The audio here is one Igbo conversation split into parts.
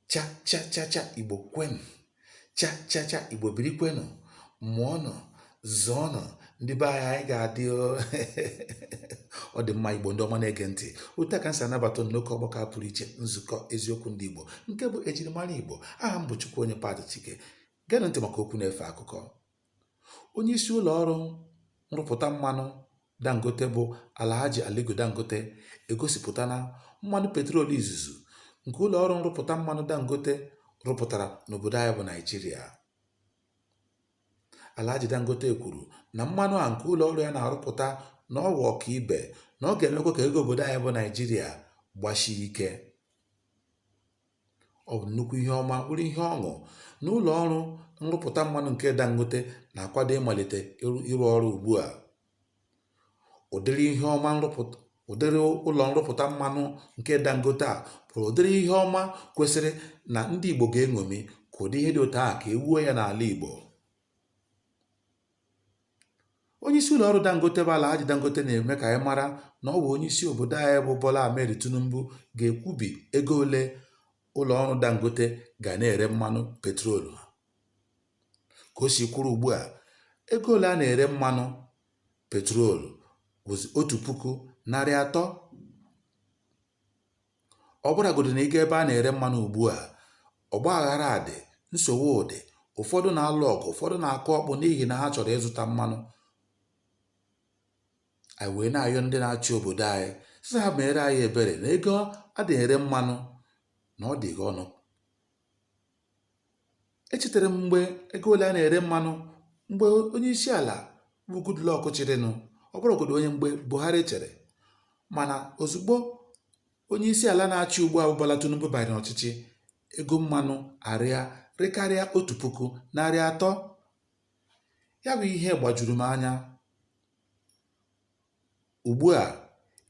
cha cha cha cha igbo kwenụ cha cha cha igbo biri kwenụ mụọnụ zụọnụ ndị be anyị anyị ga-adị o. ọ dị mma igbo ndị ọma na-ege ntị otu a ka m si anabata unu n'oke ọgbakọ a pụrụ iche nzukọ eziokwu ndị igbo nke bụ ejirimara igbo aha m bụ chukwuonye pat chike geenụ ntị maka okwu na-efe akụkọ Onyeisi ụlọọrụ nrụpụta mmanụ Dangote bụ Alhaji Aliko Dangote egosipụtala mmanụ petrol izizi nke ụlọọrụ nrụpụta mmanụ Dangote rụpụtara n'obodo anyị bụ Naịjirịa. Alhaji Dangote kwuru na mmanụ a nke ụlọọrụ ya na-arụpụta na ọ wụ ọkaibe na ọ ga-emekwa ka ego obodo anyị bụ Naịjirịa gbasie ike. Ọ bụ nnukwu ihe ọma, bụrụ ihe ọṅụ na ụlọ ọrụ nrụpụta mmanụ nke Dangote na-akwado ịmalite ịrụ ọrụ ugbu a. Ụdịrị ihe ọma ụdịrị ụlọ nrụpụta mmanụ nke Dangote a bụrụ ụdịrị ihe ọma kwesịrị na ndị Igbo ga-eṅomi ka ụdị ihe dị otu ahụ ka e wuo ya n'ala Igbo. Onye isi ụlọ ọrụ Dangote bụ Alhaji Dangote na-eme ka anyị mara na ọ bụ onye isi obodo anyị bụ Bola Ahmed Tinubu ga-ekwubi ego ole ụlọ ọrụ Dangote ga na-ere mmanụ petrol ha. Ka o si kwụrụ ugbu a, ego ole a na-ere mmanụ petrol bụzi otu puku narị atọ Ọ bụrụgodị na ị gaa ebe a na-ere mmanụ ugbu a, ọgba aghara dị, nsogbu dị, ụfọdụ na-alụ ọgụ, ụfọdụ na-akụ ọkpọ n'ihi na ha chọrọ ịzụta mmanụ. Anyị wee na-ayọ ndị na-achị obodo anyị sị ha meere anyị ebere na ego a na-ere mmanụ na ọ dịka ọnụ Echetara m mgbe ego ole a na-ere mmanụ mgbe onye isi ala bụ Goodluck chịrịnụ, ọ bụrụgodị onye mgbe Buhari chịrị. Mana ozugbo onye isi ala na-achị ugbu a bụ Bola Tinubu banyere ọchịchị, ego mmanụ arịa rịkarịa otu puku narị atọ. Ya bụ ihe gbajuru m anya. Ugbu a,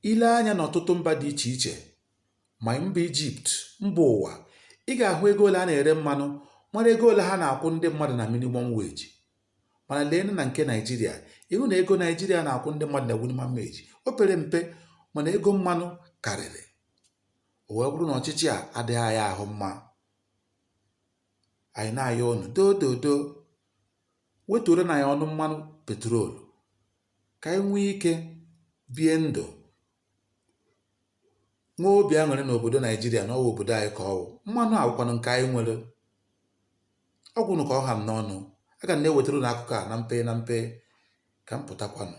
i lee anya n'ọtụtụ mba dị iche iche, ma mba Ijipt, mba ụwa, ị ga-ahụ ego ole a na-ere mmanụ mara ego ole ha na-akwụ ndị mmadụ na minimum wage. Mana leenụ na nke Naijiria, ị hụ na ego Naijiria na-akwụ ndị mmadụ na minimum wage o pere mpe mana ego mmanụ karịrị. O wee bụrụ na ọchịchị a adịghị anyị ahụ mma. Anyị na-ayọ unu doo doo doo wetuoronụ anyị ọnụ mmanụ petrol ka anyị nwee ike bie ndụ nwee obi aṅụrị n'obodo naijiria na ọ wụ obodo anyị ka ọ wụ mmanụ a wụkwanụ nke anyị nwere ọ gwụnụ ka ọ ha m n'ọnụ aga m na-ewetara unu akụkọ a na mpe na mpe ka m pụtakwanụ